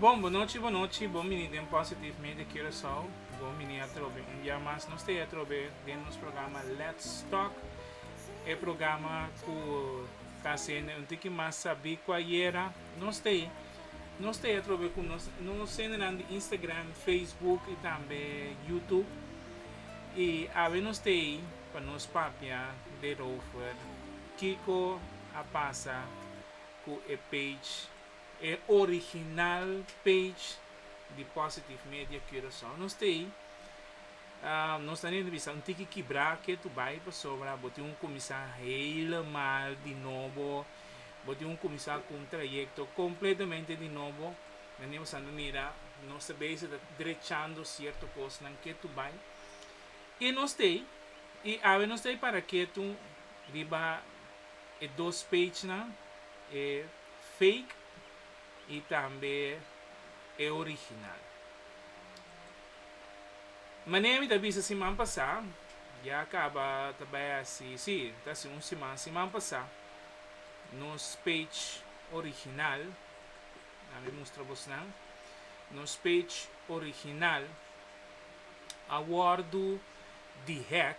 Bon, bonochi, bonochi, bon bini den Positive Media Curaçao, bon bini atrobe un bia mas nos ta e atrobe den nos programa Let's Talk, e programa ku ta hasiendo un tiki mas sabí ku ayera, nos ta e nos ta e atrobe ku nos nos sendenan di Instagram, Facebook i tambe YouTube i awe nos ta ei pa nos papia derover kiko a pasa ku e page. E original page di Positive Media Curaçao. Nos ta ei. Nos ta nere bisa un tiki kibra ke tu bai pasobra bo tin un kuminsá helemal di nobo. Bo tin un kuminsá ku un trayekto kompletamente di nobo. Manera bo sa ta mira nos ta bese ta drechando sierto kosnan ke tu bai. I nos ta ei. I awe nos ta ei para ke tu riba e dos pagenan, e. fake y tambe e original. Manera mi ta bisa siman pasa, ya a caba ta bay haci, si, ta haci un siman, siman pasa nos page original, a mi mustra bos nan, nos page original a wordo di hack.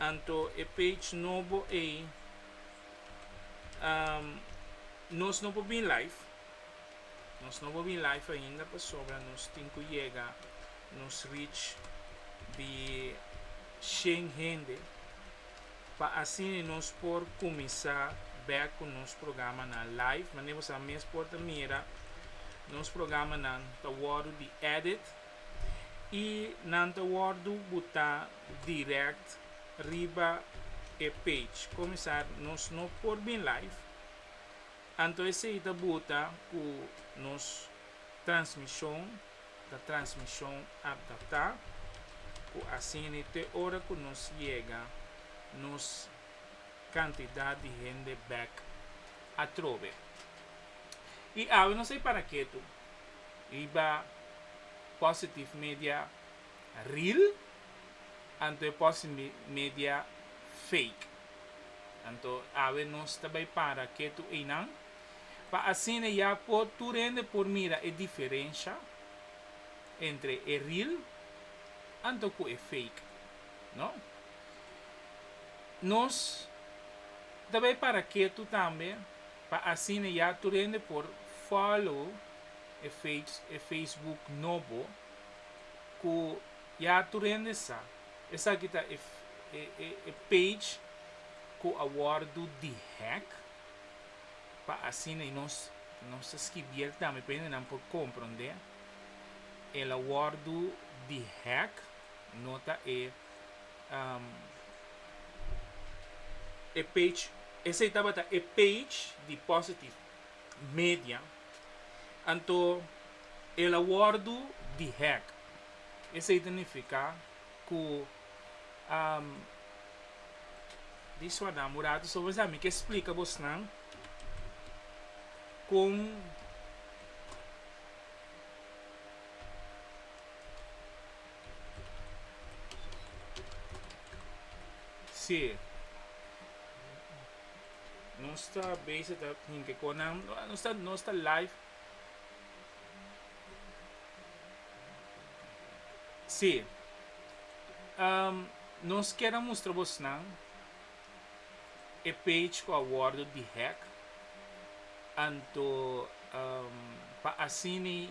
Anto e page nobo ei nos no por bin live nos no por bin live ainda pasobra nos tin cu yega nos reach di shen hende pa asina nos por cuminsa back cu nos programanan live manera bosa mes por ta mira nos programanan ta wordo di edit i nan ta wordu butá direct riba e page comisar nos no por bin live anto esei ta buta cu nos transmision ta transmision adaptá cu asina te ora cu nos yega nos cantidad di hende bek atrobe i awe nos a para ke tu. Riba Positive Media Real anto e Positive Media Fake. Anto awe nos ta bay para ketu eynan pa asina ya por tur hende por mira e diferensha entre e real anto cu e fake. No. Nos ta bay para ketu tambe Pa asina ya tur hende por follow e e Facebook nobo ku ya tur hende sa. Esaki ta e e e page ku a wordu dehack pa asina i nos nos ta skibi el tambe pa hendenan por komprondé. El a wordu dehack. No ta e e page. Esey tabata e page di Positive Media. Anto el a wordu dehack. Esey ta nifica cu di sua dame un rato so vos a mi ke splica bos nan con Sí. Nos ta bezig dat hinke konan. Nos ta, nos ta live. Sí. Um, nos kera mustra bos nan e page ku a wordo di hack. Anto um, pa asini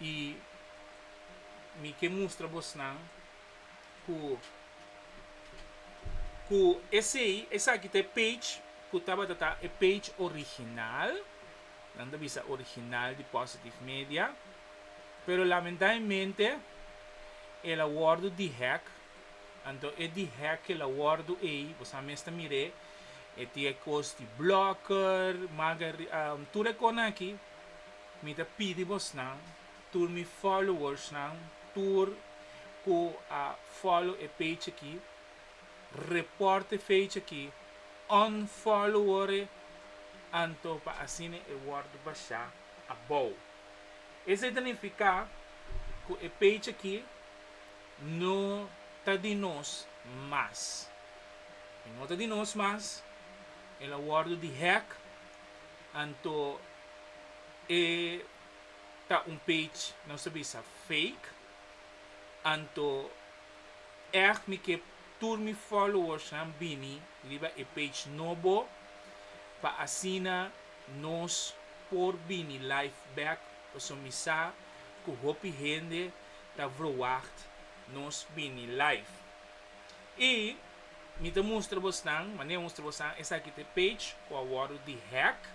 I mi ke mustra bosnan ku ku esei, esaki ta e page ku tabata ta e page original, nan ta bisa original di Positive Media, pero lamentablemente el a wòrdu dihack, anto e dihack ku el a wòrdu ei, bosabi mes ta mir'é, e tin e kos di blocker, maga tur e kosnan aki. Mi ta pidi bosnan, tur mi followersnan, tur ku a follow e page aki, report e page aki, unfollower e, anto pa asina e wòrdu bashá abou. Esei ta nifiká ku e page aki no ta di nos mas. E no ta di nos mas, el a wòrdu dihack. Anto e ta un page nos ta bisa fake, anto ech mi ke tur mi followersnan bini riba e page no bo pa asina nos por bini live back pasobra mi sa ku hopi hende ta verwacht nos bini live. I Mi ta mustra bosnan, manera mustra bosnan, esaki ta e page cu a wordo dehack.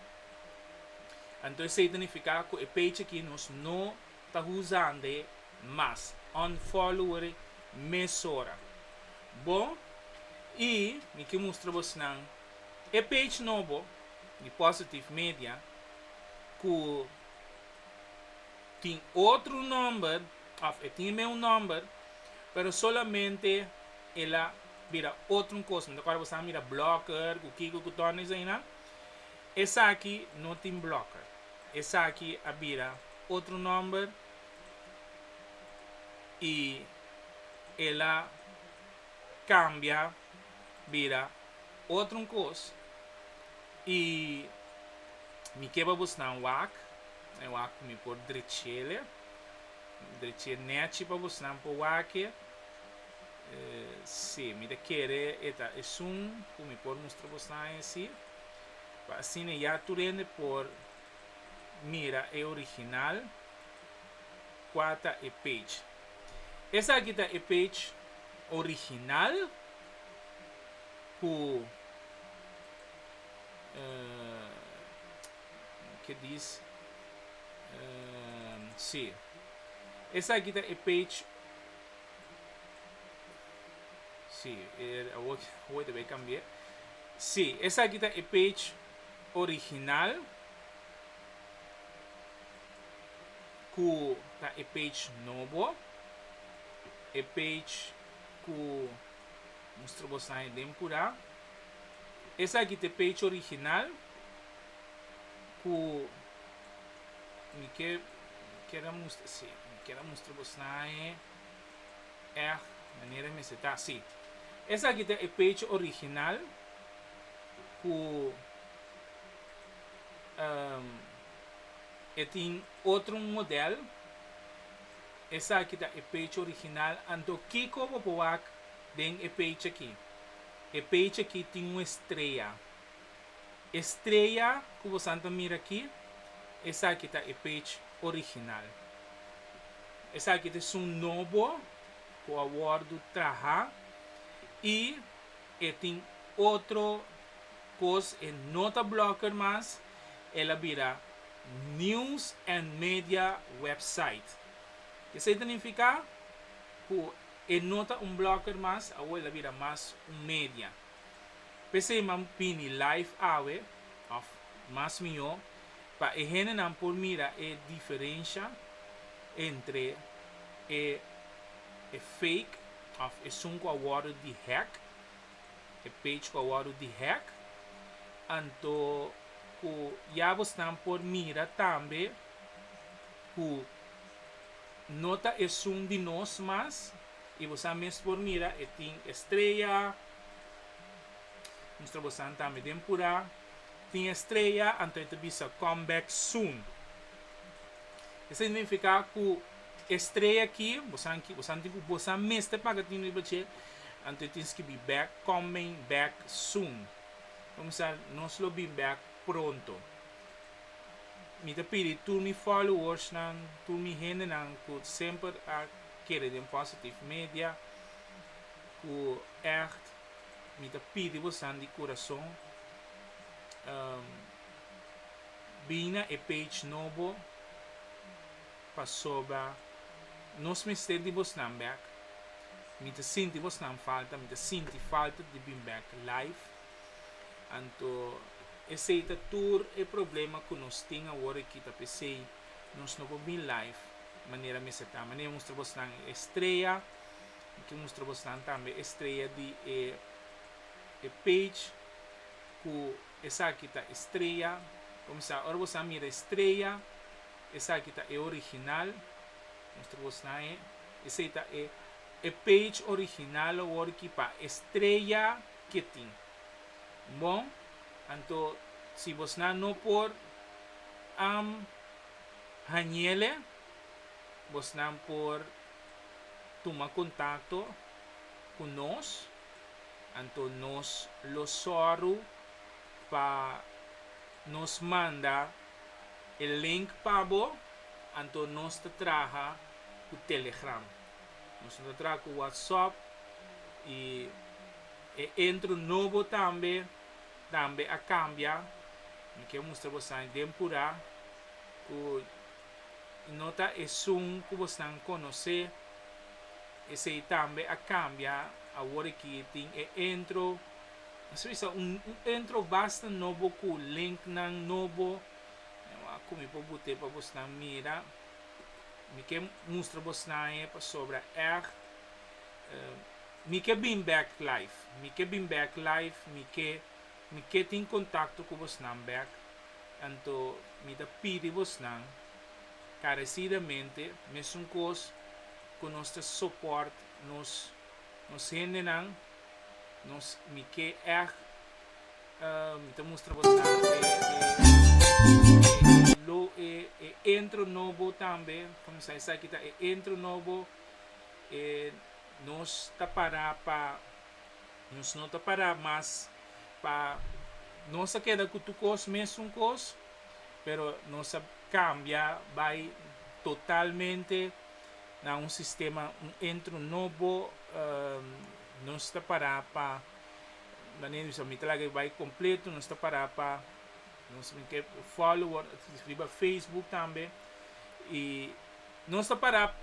Anto esey ta nifica cu e page aki nos no ta huzande mas. Unfollower mesora. Bo, y mi ki mustra bosnan e page nobo di Positive Media cu tin otro nomber, of e tin e meu nomber, pero solamente el a bira otro cos, no ta cuerda bo sa a mira blocker cu kico cu torna esainan, esaki no tin blocker, esaki a bira otro nomber y el a cambia bira otro cos y mi ke pa bos nan wak, e wak cu mi por drechele, dreche nechi pa bos nan por wak e. Sí, mi ta kere e ta esun ku mi por mustra bo stain esí, pa asina ya tur hende por mira e original. Kua ta e page? Esaki ta e page original ku ke dis sí, esaki ta e page. Sí, er, awor, awor te cambié. Sí, esa aquí está el page original. Cu está el page nuevo. El page cu mostró vos ahí den pura. Esa aquí está el page original. Cu Mi ke ker a mustra, si, mi ker a mustra bo snahe èg manera e mester ta. Si, esaki ta e page original ku e tin otro modèl. Esaki ta e page original, anto kiko bo por wak den e page aki? E page aki tin un estrella. Estrella cu bosan ta mira aki, esaki ta e page original. Esaki ta esun nobo cu a wordo traha y e tin otro cos, e no ta Blogger mas, el a bira News and Media Website. Esey ta nifica cu e no ta un Blogger mas, awo el a bira mas un media. P'esei m'a bini live awe, òf mas mihó, pa e hendenan por mira e diferensha entre e e fake òf esun ku a wòrdu dihack, e page ku a wòrdu dihack. Anto ku ya bosnan por mira tambe ku no ta esun di nos mas. y bosa mes por mira e tin estrella, mustra bosanan tambe den pura tin estrella anto e ta bisa come back soon, e significa cu estrella aki bosanan ki bosanan tin cu bosa mes ta paga tin riba dje anto e tin skibi back coming back soon por misa nos lo bin back pronto, mi ta pidi tur mi followers nan tur mi hendenan cu semper a. Kere den Positive Media ku ègt mi ta pidi bosan di kurason bin na e page nobo pasobra nos mester di bosnan bèk. Mi ta sinti bosnan falta, mi ta sinti falta di bin bèk live. Anto esei ta tur e problema ku nos tin awor aki ta p'esei. Nos no por bin life manera mester ta, manera nos ta bosnan e estrella, ki nos ta bosnan tambe e estrella di e e page ku esaki ta estrella, como sa ora boso a mira e estrella esaki ta e original, nos ta bosnan e, esei ta e e page original awor ki pa estrella ke tin. Bon, anto si bosnan no por am hañele, bosnan por tuma kontakto ku nos, anto nos lo sòru pa nos manda e link pa bo, anto nos ta traha ku Telegram. Nos no ta traha ku Whatsapp i. E intro nobo tambe tambe a cambia. Mi kier mustra bo esnan den pura cu no ta esun cu bosnan conoce. Esey tambe a cambia. Awor aki tin e intro. Mester bisa un intro basta nobo cu linknan nobo. Mi awor a cumi por bute pa bosnan mira. Mi kier mustra bosnan e pasobra echt. Mi ke bin bek live. Mi ke bin bek live mi ke mi ke tin contacto cu bosnan bek anto mi ta pidi bosnan carecidamente mesun cos cu nos ta support nos nos hendenan nos mi ke echt mi ta mustra bosnan e intro nobo tambe comenzá esaki ta e intro nobo e. Nos ta pará pa nos no ta pará mas pa nos a keda ku tukos mesun kos pero nos a kambia bai totalmente na un sistema un entro nobo nos ta pará pa manera di bisa mi ta laga bai kompleto nos ta pará pa nos mi ke follower riba facebook tambe i nos ta pará.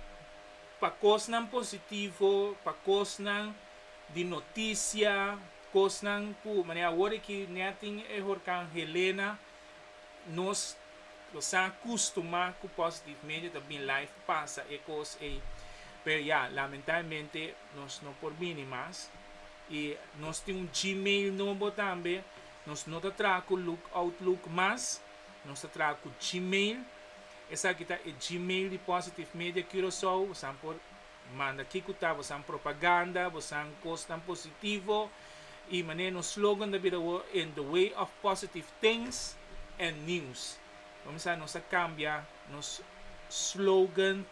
Pa kosnan positivo, pa kosnan di notisia, kosnan ku manera awor e ki nèt tin e horkan Helena, nos lo sa kustumá ku positivmente ta bin life a pasa e kos ei. Pero ya, lamentabelmente nos no por bini mas. I nos tin un Gmail nobo tambe, nos no ta traha ku Lookout Look mas, nos ta traha ku Gmail. Esaki ta e gmail di Positive Media Curaçao, bosan por manda kico ta bosan propaganda, bosan cosnan positivo, y manera nos slogan ta bira awor In the way of positive things and news. Comenzá nos a cambia nos slogan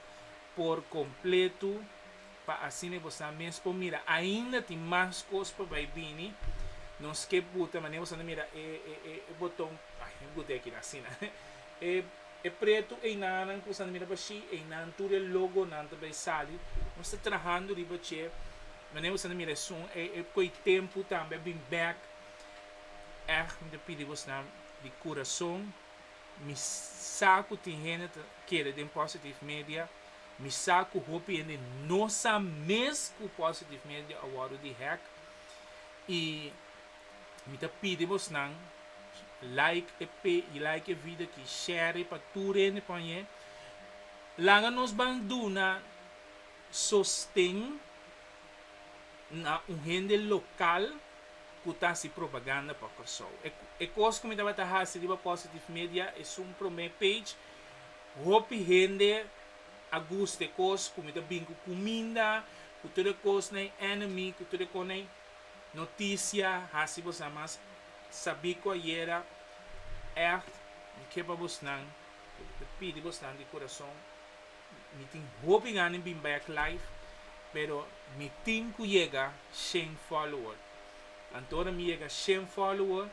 por completo pa asina bosan mes por mira ainda tin mas cos pa bay bini, nos ke buta manera bosan ta mira e boton, ay, no buta aki asina. E pretu einanan ku Santa Mira Bashi, einan tur e logonan ta bai sali. Nos ta trahando riba dje manera ku Santa Mira esun e ku e tempu tambe a bin bèk. Ègt mi ta pidi bonan di kurason, mi sa ku tin hende ta kere den Positive Media, mi sa ku hopi hende no sa mes ku Positive Media a wòrdu di hèk i Mi ta pidi bosnan like e pe y like e video aki, share e pa tur hende pa oñ'é. Laga nos ban duna sosten na un hende local cu ta haci propaganda pa Corsou. E e cos cu mi tabata haci riba Positive Media esun prome page, hopi hende a gusta e cos cu mi ta bin cu cuminda, cu tur e cosnan enemy, cu tur e cosnan. Noticia hasi bosa mas sabi cu ayera echt mi ke pa bosnan pidi bosnan di curason mi tin hopi gana di bin back live pero mi tin cu yega shen follower anto ora mi yega shen follower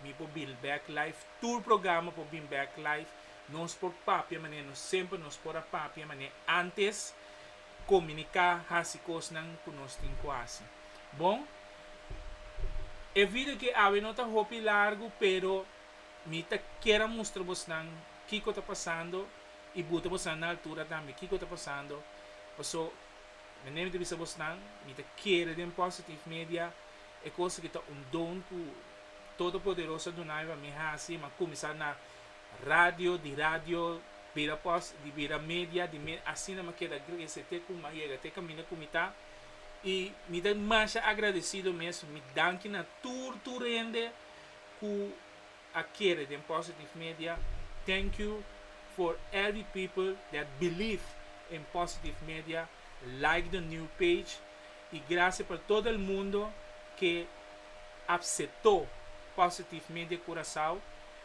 mi por bin back live tur programa por bin back live nos por papia manera nos semper nos por a papia manera antes komuniká, hasi kosnan ku nos tin ku hasi. Bon, e video ke awe no ta hopi largu, pero mi ta kier a mustra bosnan kiko ta pasando i buta bosnan na altura tambe kiko ta pasando. Paso, mende mi ta bisa bosnan, mi ta kere den Positive Media e kos aki ta un don ku Todopoderoso a duna aiba mi hasi, mi a kuminsá na Radio di radio bira pos di bira media di media asina mi keda grese te ku mi a yega te kaminda ku mi ta i mi ta masha agradesido mes mi danki na tur tur hende ku a kere den positive media thank you for every people that believe in positive media like the new page i grasia pa todo el mundo ke apseto positive media Curaçao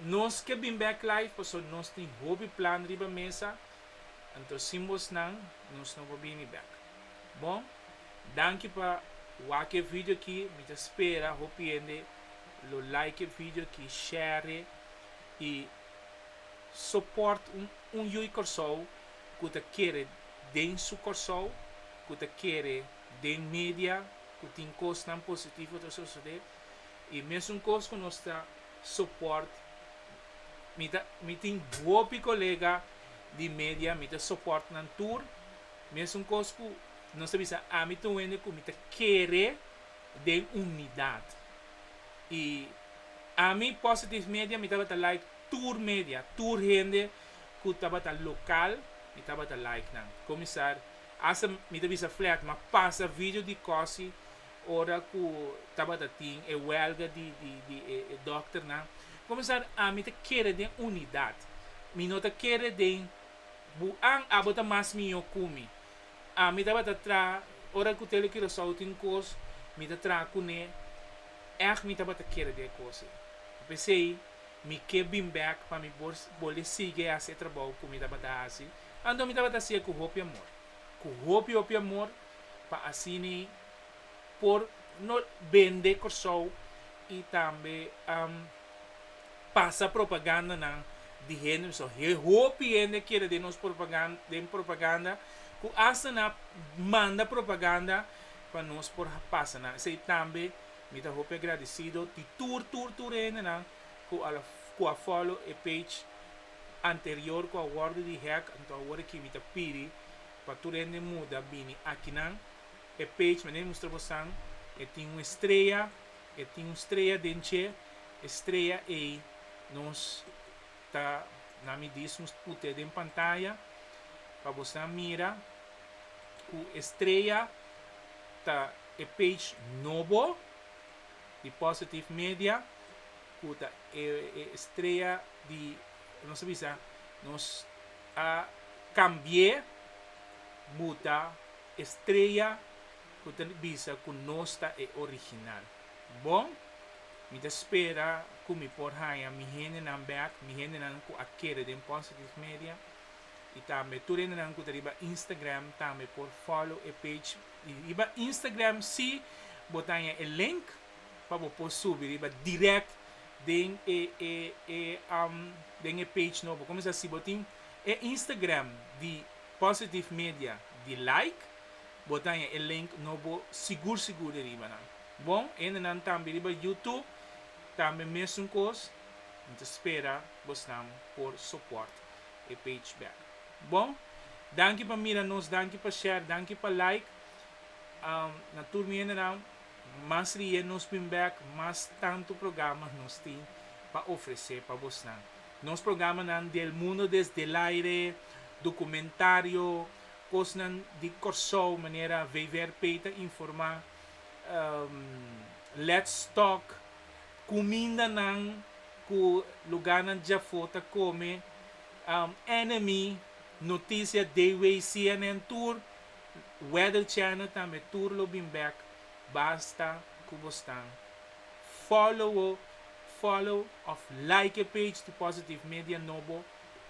Nos ke bin bek life paso nos tin hopi plan riba mesa anto sin bosnan nos no por bini bek. Bon danki pa wak e video aki mi ta spera hopi hende lo like e video aki share i soport un un yu i Kòrsou ku ta kere den su Kòrsou ku ta kere den media ku tin kosnan positivo ta sosode i mesun kos ku nos ta Support mi ta mi tin hopi colega di media mi ta support nan tur mesun cos cu nos ta bisa ami ta un hende cu mi ta kere den unidad y ami positive media mi tabata like tur media tur hende cu tabata local mi tabata like nan comisar hasta mi ta bisa flat ma pasa video di cosi Ora ku tabata tin e wèlga di e dòkternan, Komisar, ami ta kere den unidat. Mi no ta kere den bu'an, abo ta mas mihó ku mi. Ami tabata traha, ora ku Tele Curaçao tin kos, mi ta traha kuné. Ègt mi tabata kere den e kos ei. P'esei mi ke bin bèk pa mi por bolé sigui hasi e trabou ku mi tabata hasi, anto mi tabata hasia ku hopi amor, ku hopi hopi amor, pa asina ei. por no bende Kòrsou i tambe pasa propagandanan di hende bisou. Hopi hende keda den nos den propaganda ku asta na manda propaganda pa nos por pasa nan. Esei tambe mi ta hopi agradesido di tur tur tur hendenan ku a ku a fòlo e page anterior ku a wòrdu di hèk. Anto awor aki mi ta pidi pa tur hende muda bini akinan. E page menen mustra bosan e tin un estrella, e tin un strella den dje estrella ei nos ta na midis nos put'e den pantaya pa bosan mira cu estrella ta e page nobo di Positive Media cu ta e estrella di nos a bisa nos a cambi'e buta Estrella cu ta bisa cu nos ta e original. Bon, mi ta spera cu mi por haya mi hendenan bek, mi hendenan cu a kere den Positive Media, y tambe tur hendenan cu ta riba Instagram tambe por follow e page. Y riba Instagram si bo ta haya e link pa bo por subi riba direct den e e e den e page nobo. Como sa si bo tin e Instagram di. Positive Media di like bo daña e link no bo sigur sigur di riba nan bon hende nan tambe riba YouTube tambe mesun kos mi ta spera bosnan por soport e page back bon danki pa mira nos danki pa share danki pa like na tur mi hende nan mas riye nos bin back mas tantu programa nos tin pa ofrece pa bosnan. Nos programanan di El Mundo Desde El Aire, documentario, cosnan di Corsou manera VVRP ta informa, Let's Talk, cumindanan cu lugarnan djafo ta come, Enemy, noticia Dayways, CNN tur, Weather Channel tambe tur lo bin bek, basta cu bo stan. Follow follow of like e page di Positive Media Nobo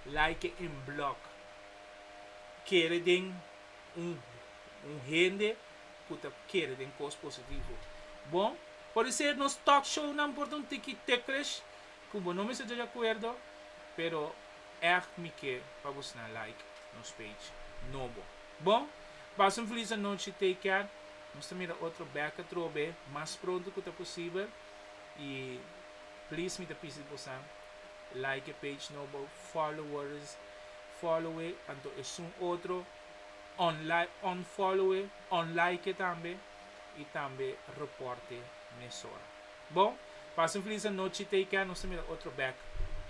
like e en blog kere den un un hende ku ta kere den kos positivo bon por ser nos talk show nan por ta un tiki ticklish ku bo no mester ta di akuerdo pero ech mi ke pa bo sna like nos page Nobo. Bon, pasa un feliz anochi take care nos ta mira otro bek atrobe mas pronto cu ta posibel y please mi ta pisi di bosan like e page no bo followers follow e anto esun otro unlike unfollow e unlike e tambe y tambe report e mesora bon pasa un feliz anochi take care nos ta mira otro bek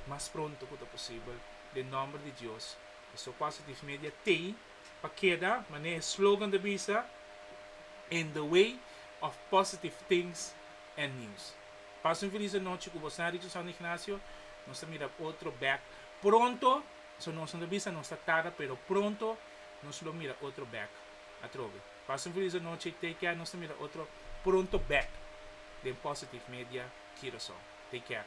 mas pronto cu ta posibel den nomber di Dios. E so positive media tei pa keda, manera e slogan ta bisa, In the way of positive things and news. Pasa un felis anochi ku bosnan richin San Ignacio, nos ta mira otro bek pronto, so nosnan ta bisa nos ta tarda pero pronto nos lo mira otro bek atrobe. Pasa un felis anochi, take care nos ta mira otro pronto bek den Positive Media Curaçao. Take care.